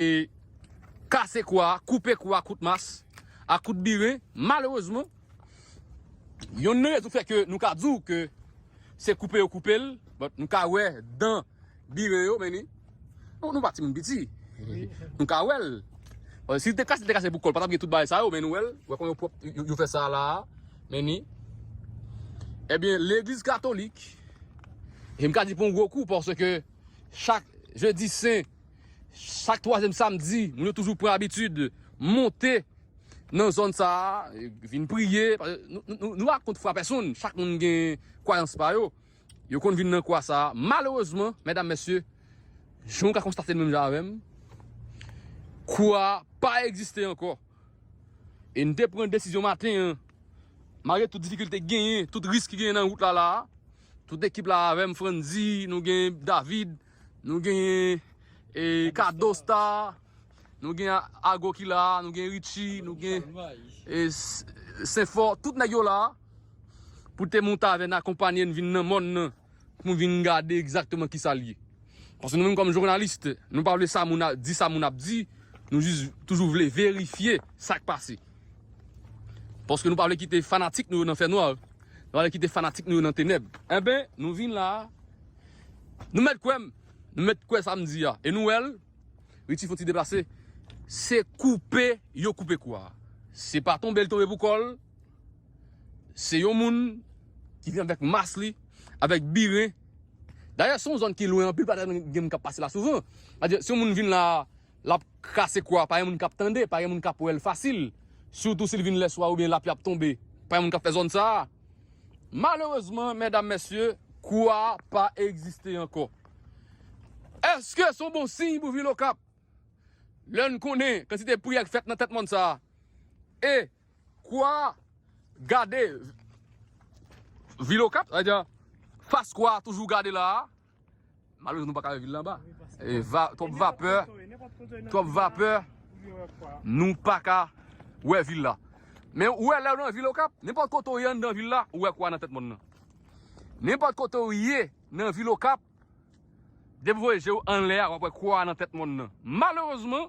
e kase kou a, koupe kou a kout mas, a kout birin. Malerezman, yonn nan rezon fè ke nou ka di w ke se koupe yo koupe l, but nou ka wè dan birin yo men li, bon nou pa timoun piti, nou ka wè l. Bon si l te kase, l te kase pou kò l, pa t ap gen tout bagay sa yo men nou wè l, wè kòman yo pwòp, yo fè sa la a, men ni. Ebyen legliz katolik, e m ka di pou yon gwo kou paske chak jedi sen, Chak twazyèm samdi, moun yo toujou pran abitid monte nan zòn sa a, vin priye. Nou pa kont fwa pèsonn, chak moun gen kwayans pa yo. Yo konn vin nan kwa sa a. Malerezman, medam, mesye, jan ou ka konstate l menm jan avè m, kwa a pa egziste ankò. E n te pran desizyon maten an, malgre tout difikilte ki genyen, tout risk ki genyen nan wout la la a, tout ekip la avè m, Frantzy, nou gen David, Nou genyen e kado star, nou gen ago ki la, nou gen richi, nou gen e senfò, tout nèg yo la pou te monte avè n akonpanye n vin nan mòn nan pou vin gade egzakteman ki sa l ye. Paske nou menm kòm journalist, nou pa vle sa moun ap di, sa moun ap di, nou jis toujou vle verifye sa k pase. Paske nou pa vle kite fanatik nou yo nan fè nwa, nou pa vle kite fanatik nou yo nan tenèb. Enben, nou vin la, Nou mèt kwè m, nou mèt kwè sa m di a. E nou wè l, Richie fè yon ti deplase, se koupe yo koupe kou a. Se pa tonbe l tonbe pou kò l, se yon moun ki vin avèk mas li, avèk birin. Dayè se yon zòn ki lwen anpil, pa gen moun k ap pase la souvan. Se yon moun vin la. Lap kase kwa pa gen moun kap tande pa gen moun kap wèl fasil sitou sil vin lèswa oubyen lapli ap tonbe pa gen moun kap fè zòn sa malerezman mèdam mèsye kwa pa egziste ankò eske son bon siy pou vil okap lèn konnen kantite priyè k fèt nan tèt mòn sa e kwa gade vil okap fas kwa toujou gade la. Malere nou paka wè vil la anba. Twòp vapè, twòp vapè, nou paka wè vil la. Men ou wè lè ou nan vil okap, nenpòt kote ou ye anndan vil la, ou wè kwa nan tèt mòn nan. Nenpòt kote ou ye nan vil okap, depi ou voye je ou anlè a, wap wè kwa nan tèt mòn nan. Malerezman.